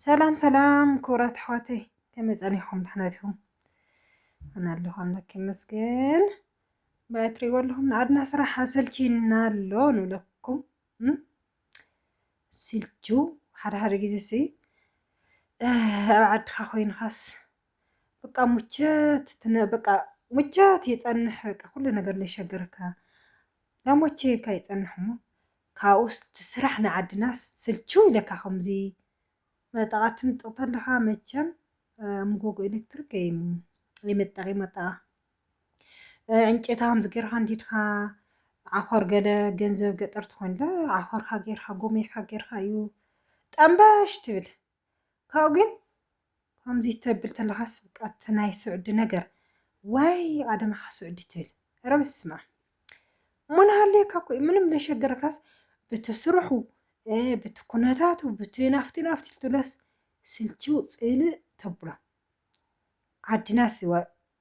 ሰላም ሰላም ክቡራት ኣሕዋተይ ከመይ ጸኒሕኩም ደሕና ዲኹም? ኣነ ኣለኹ ኣምላክ ይመስገን። ብኣይ እትሪእዎ ኣለኹም ንዓድና ስራሕ ኣሰልቺና ኣሎ ንብለኩም ስልቹ ሓደ ሓደ ግዜ ሲ ኣብ ዓድካ ኮይንካስ በቃ ሙቸት በቃ ሙቸት ይጸንሕ በቃ ኩሉ ነገር ለይሸገረካ ዳሞቼ እካ ይጸንሕ እሞ ካብኡስ ትስራሕ ንዓድናስ ስልችው ኢለካ ከምዚ መጠቓ ትምጥቕ ተለኻ መቸም ምጎጎ ኤሌክትሪክ ኣይመጠቒ መጠቓ ዕንጨታ ከምዚ ጌርካ እንዲድካ ዓኾር ገለ ገንዘብ ገጠር ትኾንለ ዓኾርካ ጌርካ ጎሚርካ ጌርካ እዩ ጠምበሽ ትብል ካብኡ ግን ከምዚ ተብል ተለኻስ በቃ እቲ ናይ ስዑዲ ነገር ዋይ ኣደማኻ ስዑዲ ትብል ኧረ በስመኣብ እሞ ናሃልየካ እኮ እዩ ምንም ለሸገረካስ ብቲ ስርሑ ብቲ ኩነታቱ ብቲ ናፍቲ ናፍቲ ልትብለስ ስልችው ጽልእ ተብሎ ዓድናስ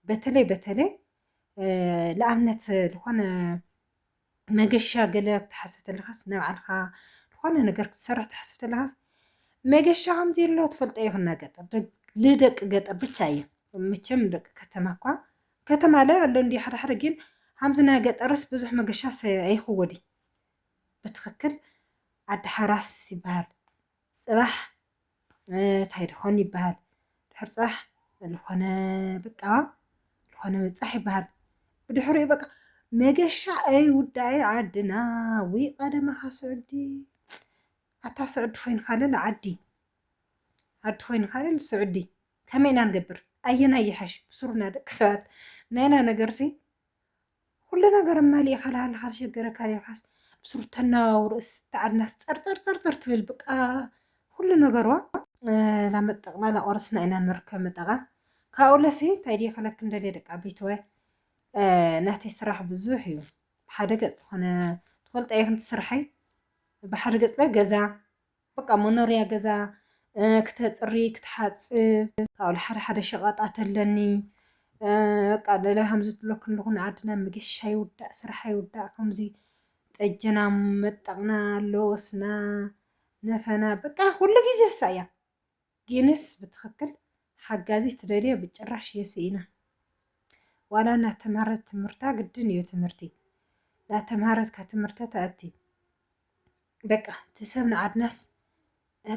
በተለይ በተለይ ንኣብነት ዝኾነ መገሻ ገለ ክትሓስብ ተለኻስ ናይ ባዕልኻ ዝኾነ ነገር ክትሰርሕ ትሓስብ ተለኻስ መገሻ ከም ዘየሎ ትፈልጦ ኢኹ እና ገጠር ልደቂ ገጠር ብቻ እዩ መቸም ደቂ ከተማ እኳ ከተማ ላይ ኣሎ እንዲ ሓደ ሓደ ግን ከምዚ ናይ ገጠርስ ብዙሕ መገሻስ ኣይኽወዲ ብትኽክል ዓዲ ሓራስ ይበሃል ፅባሕ እንታይ ድኾን ይበሃል ድሕሪ ፅባሕ ዝኾነ በቃ ዝኾነ ምብፃሕ ይበሃል ብድሕሪኡ በቃ መገሻ ኣይ ውዳይ ዓድና ውይ ቀደማኻ ስዑዲ ኣታ ስዑዲ ኮይንካ ልል ዓዲ ዓዲ ኮይንካ ልል ስዑዲ ከመይ ኢና ንገብር ኣየና ይሓሽ ብስሩና ደቂ ሰባት ናይና ነገርሲ ኩሉ ነገር መሊእኻ ልሃልኻ ዝሸገረካ ኔርካስ ምስ ሩታ ነዋውርእስ ተዓድናስ ጸርጸርጸርጸር ትብል ብቃ ኩሉ ነገርዋ ላመጠቅና ላቆረስና ኢና ንርከብ መጠቃ ካብኡ ለሲ እንታይ ድየ ክለክን ደልየ ደቂ ዓበይትወ ናተይ ስራሕ ብዙሕ እዩ ብሓደ ገጽ ዝኾነ ትፈልጠ ይኹን ትስርሐይ ብሓደ ገጽ ገዛ በቃ መኖርያ ገዛ ክተጽሪ ክትሓጽብ ካብኡ ሓደ ሓደ ሸቐጣት ኣለኒ በቃ ለለ ከምዚ ትብሎ ክንዲ ኩን ዓድና መገሻ ይውዳእ ስራሕ ኣይውዳእ ከምዚ ጠጀና መጠቕና ለወስና ነፈና በቃ ኩሉ ግዜ እሳ እያ ጊንስ ብትክክል ሓጋዚ ትደልዮ ብጭራሽ የስኢና ዋላ ናተማህረት ትምህርታ ግድን እዩ ትምህርቲ ናተማህረት ካብ ትምህርተ ተእቲ በቃ እቲ ሰብ ንዓድናስ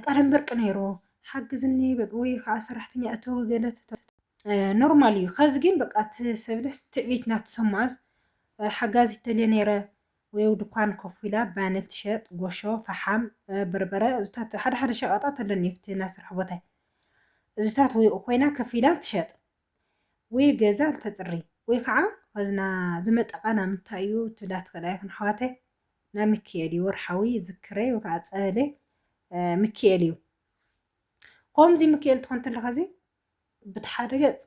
ቃለምበርቂ ነይሩ ሓግዝኒ ወይ ከዓ ሰራሕተኛ እተዊ ገለ ኖርማል እዩ ከዚ ግን በቃ እቲ ሰብለስ ትዕቢት ናተሰምዖስ ሓጋዚ ትደልየ ነይረ ወየው ድኳን ኮፍ ኢላ ባኒ ትሸጥ ጎሾ ፈሓም በርበረ እዙታት ሓደ ሓደ ሸቀጣት ኣለኒ ኣብቲ ናይ ስራሕ ቦታይ እዙታት ወይ ኾይና ከፍ ኢላ ትሸጥ ወይ ገዛ ተጽሪ ወይ ከዓ ኸዝና ዝመጠቃ ናብ ምንታይ እዩ ትብላ ትኽእል ኣይኹን ኣሕዋተይ ናብ ምክኤል እዩ ወርሓዊ ዝክረይ ወይ ከዓ ጸበለይ ምክኤል እዩ ኮምዚ ምክኤል ትኾን ተለኸዚ ብቲ ሓደ ገጽ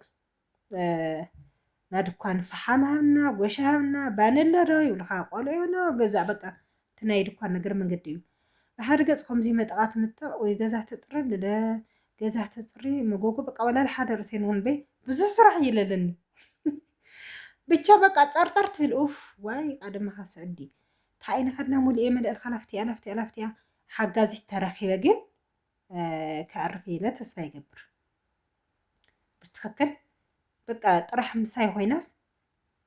ናይ ድኳን ፈሓም ሃብና፣ ጎሽ ሃብና፣ ባነለ ዶ ይብሉኻ፣ ቆልዑ ዶ ገዛእ በቃ እቲ ናይ ድኳን ነገር መንገዲ እዩ። ብሓደ ገጽ ከምዚ መጠቓ ትምጠቕ ወይ ገዛ ተጽሪ ኣለለ ገዛ ተጽሪ መጎጎ በቃ ወላል ሓደ ርእሰይ ንኹንበይ ብዙሕ ስራሕ እዩ ለለኒ ብቻ በቃ ጸርጠር ትብል ኡፍ ዋይ ቀደምኻ ስዕዲ ታይን ዓድና ሙሉኤ መለእል ካላፍቲያ ላፍቲያ ላፍቲያ ሓጋዚት ተረኺበ ግን ከዕርፍ ኢለ ተስፋ ይገብር ብትክክል በቃ ጥራሕ ምሳይ ኮይናስ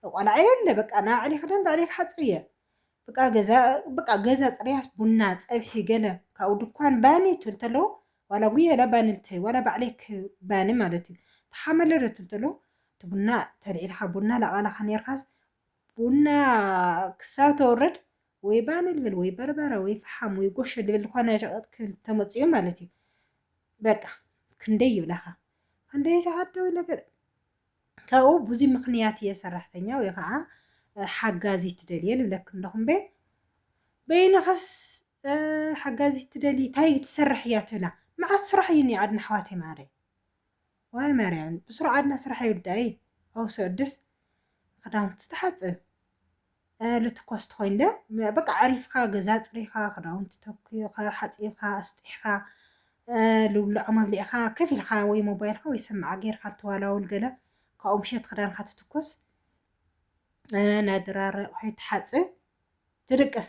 ቆልዓ የለ በቃ ናብ ዕሊ ክዳን ብዕሊ ክሓፅብ እየ በቃ ገዛ በቃ ገዛ ፅርያስ ቡና ፀብሒ ገለ ካብኡ ድኳን ባኒ ትብል ተለዎ ዋላ ጉየላ ባኒ ልተይ ዋላ ባዕለይ ባኒ ማለት እዩ ብሓመለረ ትብል ተለዎ እቲ ቡና ተልዒልካ ቡና ላቃላካ ነርካስ ቡና ክሳብ ተውርድ ወይ ባኒ ልብል ወይ በርበረ ወይ ፈሓም ወይ ጎሾ ልብል ዝኾነ ሸቐጥ ክብል ተመጺኡ ማለት እዩ በቃ ክንደይ ይብላኻ ክንደይ ሰዓት ደው ኢለ ካብኡ ብዙይ ምኽንያት እየ ሰራሕተኛ ወይ ከዓ ሓጋዚ ትደልየ ልብለክ ኣለኹም በ በይንኸስ ሓጋዚት ትደሊ እንታይ ትሰርሕ እያ ትብላ መዓት ስራሕ እዩ ኒዓድና ኣሕዋተይ ማዓረይ ዋይ ማርያም ብስሩዓት ናይ ስራሕ ይውዳኢ ኣውሰድስ ክዳውንቲ ትሓጽብ እ ልትኮስ ትኮይን ደ በቃ ኣዕሪፍካ ገዛ ኣጽሪካ ክዳውንቲ ተኩካ ሓጺብካ ኣስጢሕካ እ ልብልዖም ኣብሊዕካ ከፍ ኢልካ ወይ ሞባይልካ ወይ ሰማዓ ጌርካ ልትዋላውል ገለ ካብኡ ምሸት ክዳንካ ትትኩስ እ ናይ ድራር ኣቁሑት ትሓጽብ ትድቅስ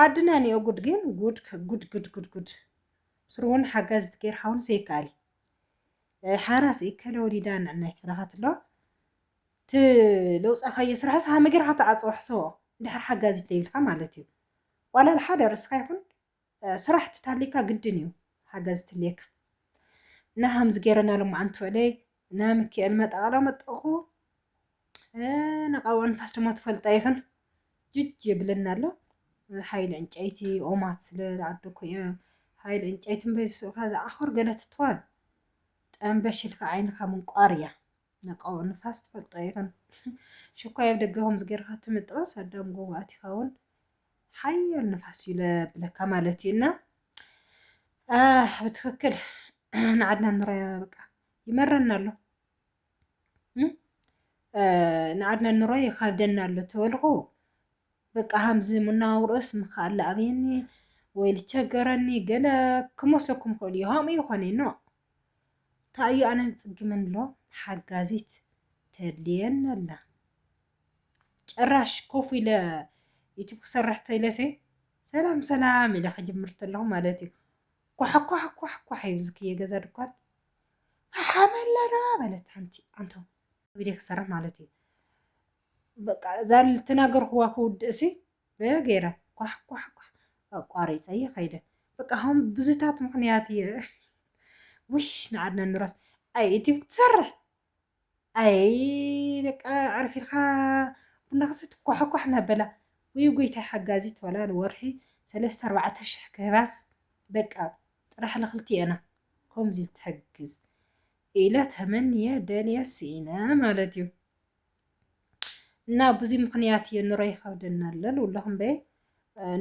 ዓድና ኒኦ ጉድ ግን ጉድ ጉድ ጉድ ጉድ ስሩውን ሓጋዚት ጌርካ ውን ዘይከኣል እዩ። ሓራስ እከለ ወሊዳ ንዕናይ ትብለካትሎ እቲ ለውፃካዮ ስራሕስ ሃመ ጌርካ ትዓፅዎ ሕሰቦ እንድሕር ሓጋዚት ለይብልካ ማለት እዩ ዋላ ሓደ ርስካ ይኩን ስራሕ ትታሊካ ግድን እዩ ሓጋዚ ትልየካ እና ሃምዚ ጌረና ሎማዓንቲ ውዕለይ እና ምኪኤል መጣቃላ መጠኩ ነቓውዕ ንፋስ ድማ ትፈልጣ ይኽን ጅጅ የብለና ኣሎ ሓይሊ ዕንጨይቲ ኦማት ስለ ዝዓደኩ እየ ሓይሊ ዕንጨይቲ እምበይ ዝስእካ ዝዓኾር ገለ ትትዋል ጠንበሽልካ ዓይንኻ ምንቋር እያ ነቃውዕ ንፋስ ትፈልጦ ይኽን ሽኳይ ኣብ ደገ ከምዚ ጌርካ ትምጥባስ ኣዳም ጎቦ ኣቲኻ እውን ሓያል ንፋስ እዩ ለብለካ ማለት እዩ እና ብትክክል ንዓድና ንራያ በቃ ይመረና ኣሎ ንዓድና ኑሮ ይኸብደና ኣሎ ተበልኹ በቃ ሃምዚ መነባብሮኡስ ምኻኣለ ኣብየኒ ወይ ልቸገረኒ ገለ ክመስለኩም ይኽእል እዩ ሃምኡ ይኾነ ኖ ታእዩ ኣነ ዝፅግመኒ ኣሎ ሓጋዚት ተድልየኒ ኣላ ጭራሽ ኮፍ ኢለ ዩቱብ ክሰርሕ ተኢለሲ ሰላም ሰላም ኢለ ክጅምር ተለኹ ማለት እዩ ኳሕኳሕኳሕኳሕ ይብል ዝክየ ገዛ ድኳን ሓመለራ በለት ሓንቲ ኣንቶ ቪድዮ ክሰርሕ ማለት እዩ በቃ እዛ ልተናገርኩዋ ክውድእሲ ገይረ ኳሕ ኳሕ ኳሕ ኣቋሪፀ እየ ከይደ በቃ ከም ብዙታት ምክንያት እየ ውሽ ንዓድና ንራስ ኣይ ዩቲብ ክትሰርሕ ኣይይ በቃ ዕርፍ ኢልካ ቡና ክሰቲ ኳሕ ኳሕ እናበላ ውይ ጎይታይ ሓጋዚት ዋላ ንወርሒ ሰለስተ ኣርባዕተ ሽሕ ክህባስ በቃ ጥራሕ ልክልቲኤና ኮምዚ ትሕግዝ ኢለ ተመንየ ደልየ ስኢነ ማለት እዩ እና ብዙይ ምክንያት እዩ ኑሮ ይከብደና ኣሎ ልብለኩ እምበይ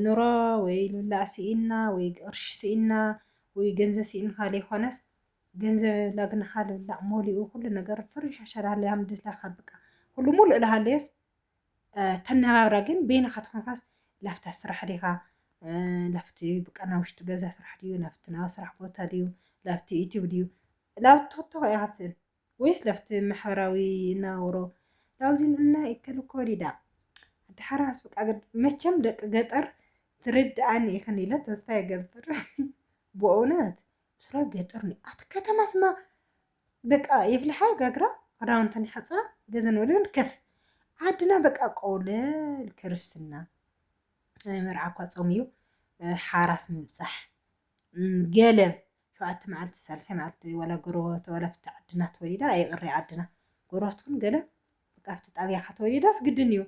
ኑሮ ወይ ልብላዕ ስኢንና ወይ ቅርሺ ስኢንና ወይ ገንዘብ ስኢንካ ለይኮነስ ገንዘብ የብላ ግን ሃልብላዕ ሞሊኡ ኩሉ ነገር ፍርሻሻ ዳሃለያ ምድስላካ ብቃ ኩሉ ሙሉእ ዳሃለየስ ተነባብራ ግን በይንኻ ተኾንካስ ላፍታ ስራሕ ዲኻ ላፍቲ ብቃ ናብ ውሽጢ ገዛ ስራሕ ድዩ ላፍቲ ናብ ስራሕ ቦታ ድዩ ላፍቲ ዩቲብ ድዩ ላብ ቶክቶክ እያ ክትስእል ወይስ ላፍቲ ማሕበራዊ ናውሮ ላብዚ ንና ይከል ኮሊዳ ድሓራስ ብቃ መቸም ደቂ ገጠር ትርድኣኒ ኢኽን ኢለ ተስፋ ይገብር ብእውነት ስራው ገጠር ነው አት ከተማ ስማ በቃ የፍልሓ ጋግራ ክዳውንተን ይሓፅባ ገዘን ወለን ከፍ ዓድና በቃ ቆለል ክርስትና መርዓ እኳ ፆም እዩ ሓራስ ምብፃሕ ገለብ ሸውዓተ መዓልቲ ሳልሳይ መዓልቲ ዋላ ጎረባብቲ ዋላ ፍቲ ዓድና ተወሊዳ ይቕሪ ዓድና ጎረባብቲ እውን ገለብ በቃ ፍቲ ጣብያኻ ተወሊዳስ ግድን እዩ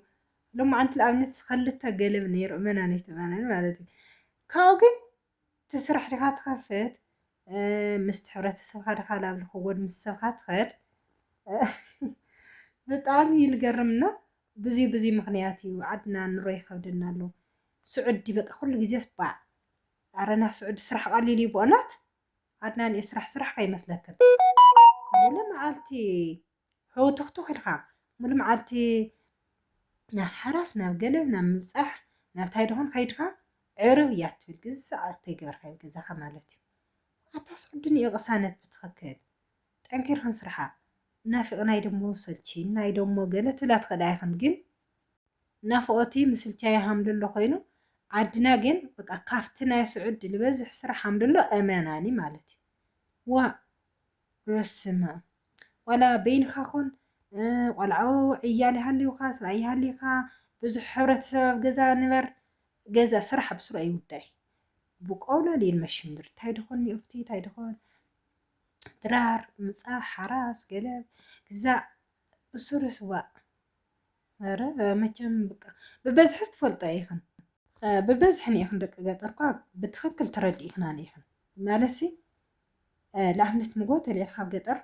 ሎማዓንቲ ንኣብነት ክልተ ገለብ ነይሩ እመናነይ ተመናኒ ማለት እዩ ካብኡ ግን እቲ ስራሕ ዲኻ ትኸፍት ምስቲ ሕብረተሰብካ ዲኻ ናብ ልኸጎድ ምስ ሰብካ ትኸድ ብጣዕሚ እዩ ልገርም እና ብዙይ ብዙይ ምክንያት እዩ ዓድና ንሮ ይኸብደና ኣሎ ስዑዲ በቃ ኩሉ ግዜስ ባእ ኣረ ናብ ስዑዲ ስራሕ ቀሊል እዩ ብኦናት ዓድና ንእየ ስራሕ ስራሕ ከይመስለክን ሙሉ መዓልቲ ሕውትኽቱኽ ኢልካ ሙሉእ መዓልቲ ናብ ሓራስ ናብ ገለ ናብ ምብጻሕ ናብ ታይ ደኾን ከይድካ ዕርብ እያ ትብል ግዛዕ ኣተይገበርካ ኣብ ገዛኻ ማለት እዩ ኣታስ ዕዱንኡ ቅሳነት ብትኽክል ጠንኪርኪ ንስርሓ ናፊቕናይ ደሞ ሰልቺዩናይ ደሞ ገለ ትብላ ትኽእላ ኣይኽን ግን ናፍቖቲ ምስልቻ ይሃምልሎ ኮይኑ ዓድና ግን በቃ ካብቲ ናይ ስዑድ ልበዝሕ ስራሕ ሃምልሎ ኣመናኒ ማለት እዩ ዋእ በስመኣም ዋላ በይንካ ኩን ቆልዑ ዕያል ይሃልዩካ ሰብኣይ ይሃልዩካ ብዙሕ ሕብረተሰብ ኣብ ገዛ ንበር ገዛ ስራሕ ብስሩ ኣይውዳይ ብቆውላል ይልመሽምድር እንታይ ድኾን ኒኡፍቲ እንታይ ድኾን ድራር ምፃ ሓራስ ገለብ ግዛእ ብስሩ ስዋእ ኧረ መቸም በቃ ብበዝሕስ ትፈልጦ ኢኽን ብበዝሒ ኒኢኽን ደቂ ገጠርኳ ብትኽክል ተረዲእክና ኒኢኽን ማለሲ ላምነት ንጎ ተልዒልካ ኣብ ገጠር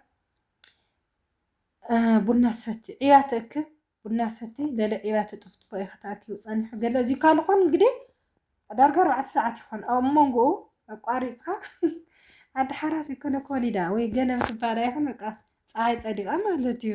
ቡና ትሰቲ ዕያ ትእክብ ቡና ሰቲ ለለ ዕያ ትጥፍጥፎ ኢኻ ተኣኪቡ ጸኒሑ ገለ እዚ ካልኾን እንግዲህ ዳርጋ ኣርባዕተ ሰዓት ይኾን ኣብ መንጎኡ ኣቋሪፅካ ኣደ ሓራስ ይኮነ ኮሊዳ ወይ ገለ ክትባላ ይኹን በቃ ፀሓይ ፀዲቃ ማለት እዩ።